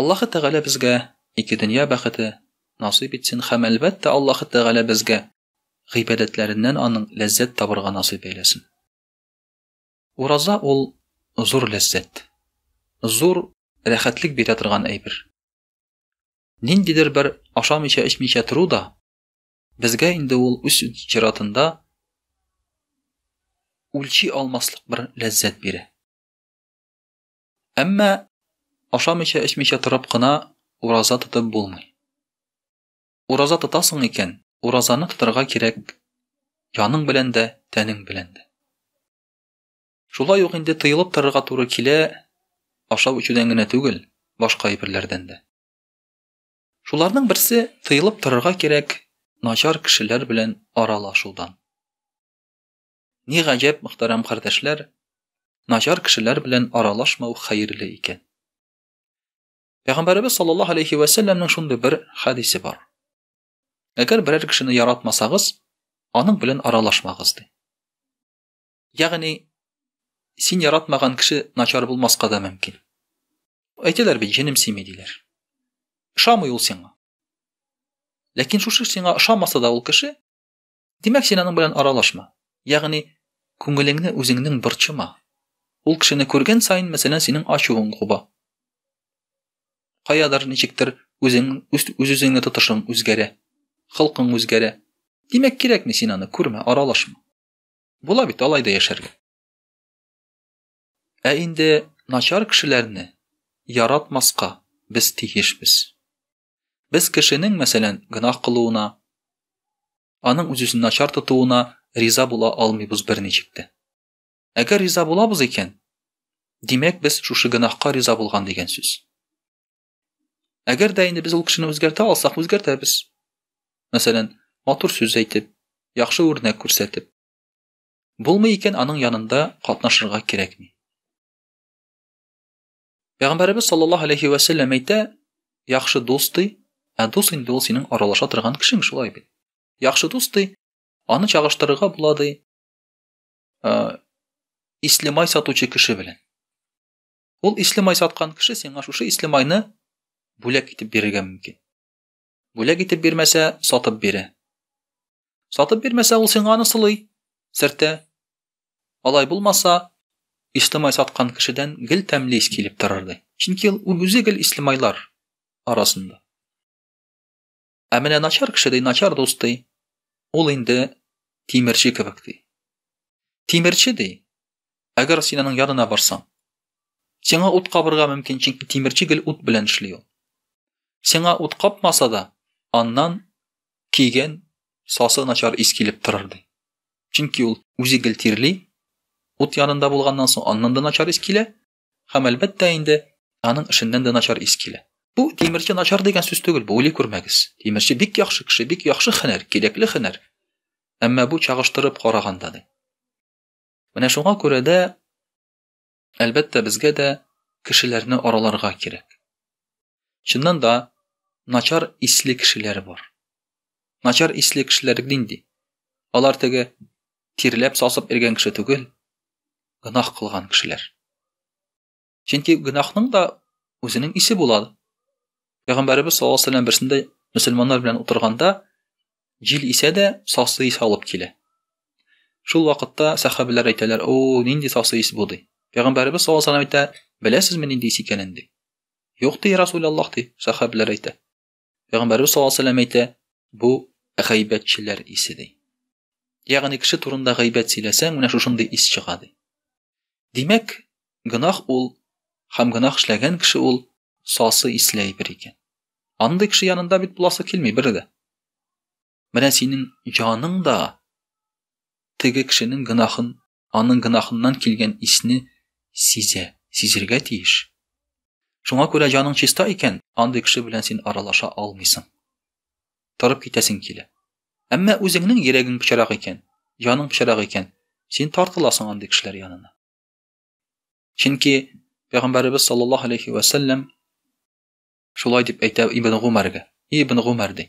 Аллаһы Тәгалә безгә ике дөнья бәхете насыйп итсен һәм әлбәттә Аллаһы Тәгалә безгә гыйбадәтләреннән аның ләззәт табырга насыйп әйләсен. Ураза ул зур ләззәт. Зур рәхәтлек бирә торган әйбер. Ниндидер бер ашамыйча эчмичә тору да безгә инде ул үз чиратында үлчи алмаслык бер ләззәт бирә. Әмма ашамыйча-эчмичә торып кына ураза тотып булмый. Ураза тотасың икән, уразаны тотарга кирәк яның белән дә, тәнең белән дә. Шулай ук инде тыелып торырга туры килә, ашау эчүдән генә түгел, башка әйберләрдән дә. Шуларның берсе тыелып торырга кирәк начар кешеләр белән аралашудан. Ни гаҗәп, мөхтәрәм кардәшләр, начар кешеләр белән аралашмау хәерле икән. Пәйгамбәребез саллаллаһу алейхи ва сәлләмнең шундый бер хәдисе бар. Әгәр берәр кешене яратмасагыз, аның белән аралашмагыз ди. Ягъни син яратмаган кеше начар булмаска да мөмкин. Әйтәләр бит, җенем сими диләр. Ошамый ул сиңа. Ләкин шушы сиңа ошамаса да ул кеше Димәк, син аның белән аралашма. Ягъни, күңелеңне үзеңнең борчыма. Ул кешене күргән саен, мәсәлән, синең ачуың куба. Каядыр ничектер үзең үз-үзеңне тотышың үзгәрә. Холкың үзгәрә. Димәк, кирәкми син аны күрмә, аралашма. Була бит алай да яшәргә. Ә инде начар кешеләрне яратмаска без тиешбез. Без кешенең, мәсәлән, гөнаһ кылуына, аның үз-үзен начар тотуына риза була алмыйбыз берничек тә. Әгәр риза булабыз икән, димәк без шушы гөнаһка риза булган дигән сүз. Әгәр дә инде без ул кешене үзгәртә алсак, үзгәртәбез. Мәсәлән, матур сүз әйтеп, яхшы үрнәк күрсәтеп. Булмый икән, аның янында катнашырга кирәкми. Пәйгамбәребез саллаллаһу алейхи вә сәлләм әйтә, яхшы дус ди, ә дус инде ул синең аралаша торган кешең шулай бит. Яхшы дус ди, аны чагыштырырга була ди. Э, ислемай сатучы кеше белән. Ул ислемай саткан кеше сиңа шушы ислемайны бүләк итеп бирергә мөмкин. Бүләк итеп бирмәсә, сатып бирә. Сатып бирмәсә, ул сиңа аны сылый, сертә. Алай булмаса, Ислемай саткан кешедән гел тәмле ис килеп торырды. Чөнки ул үзе гел Ислемайлар арасында. Ә менә начар кеше ди, начар дус ди. Ул инде тимерче кебек ди. Тимерче ди, Әгәр син аның янына барсаң, сиңа ут кабырга мөмкин, чөнки тимерче гел ут белән эшли ул. Сиңа ут капмаса да, аннан киген сасы начар ис килеп торыр ди. Чөнки ул үзе гел тирли, ут янында булганнан соң аннан да начар ис килә, һәм әлбәттә инде аның эшеннән дә начар ис килә. Бу тимерче начар дигән сүз түгел, бу уйлый күрмәгез. Тимерче бик яхшы кеше, бик яхшы хәнәр, кирәкле хәнәр. Әмма бу чагыштырып караганда ди. Менә шуңа күрә дә, әлбәттә, безгә дә кешеләрне араларга кирәк. Чыннан да, начар исле кешеләр бар. Начар исле кешеләр нинди? Алар теге тирләп сасып иргән кеше түгел, гынах кылган кешеләр. Чөнки гөнаһның да үзенең исе була. Пәйгамбәрбез саллаллаһу алейһи ва сәлләм берсендә мөселманнар белән утырганда җил исә дә сасы исе алып килә. Шул вакытта сахабиләр әйтәләр, "О, нинди сасы ис бу?" ди. Пәйгамбәрбез саллаллаһу алейһи ва сәлләм әйтә, "Беләсезме нинди ис икәнен?" ди. "Юк", ди Расул Аллаһ ди, сахабиләр әйтә. Пәйгамбәрбез саллаллаһу алейһи әйтә, бу гайбәтчеләр исе ди. Ягъни кеше турында гайбәт сөйләсәң, менә шушындый ис чыга ди. Димәк, гынах ул һәм гынах эшләгән кеше ул сасы исле әйбер икән. Андый кеше янында бит буласы килми бер дә. Менә синең җаның да теге кешенең гынахын, аның гынахыннан килгән исне сизә, сизергә тиеш. Шуңа күрә җаның чиста икән, андый кеше белән син аралаша алмыйсың. Торып китәсең килә. Әмма үзеңнең йөрәгең пычрак икән, җаның пычрак икән, син тартыласың андый кешеләр янына. Чөнки Пәйгамбәребез саллаллаһу алейхи ва саллям шулай дип әйтә Ибн Гумәргә. Ибн Гумәр ди.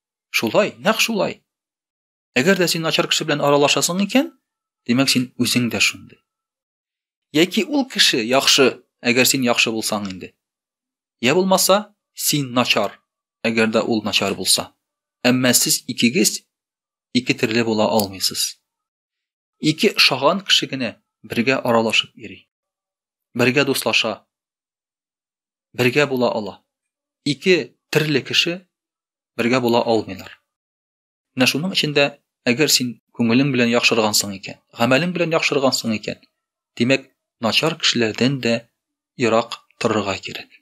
Шулай, нәкъ шулай. Әгәр дә син начар кеше белән аралашасың икән, димәк син үзең дә шундый. Яки ул кеше яхшы, әгәр син яхшы булсаң инде. Я булмаса, син начар, әгәр дә ул начар булса. Әмма сез икегез ике төрле була алмыйсыз. Ике ошаган кеше генә бергә аралашып йөри. Бергә дуслаша. Бергә була ала. Ике терле кеше бергә була алмыйлар. Менә шуның өчен дә, әгәр син күңелең белән яхшыргансың икән, гамәлең белән яхшыргансың икән, димәк, начар кешеләрдән дә ерак торырга кирәк.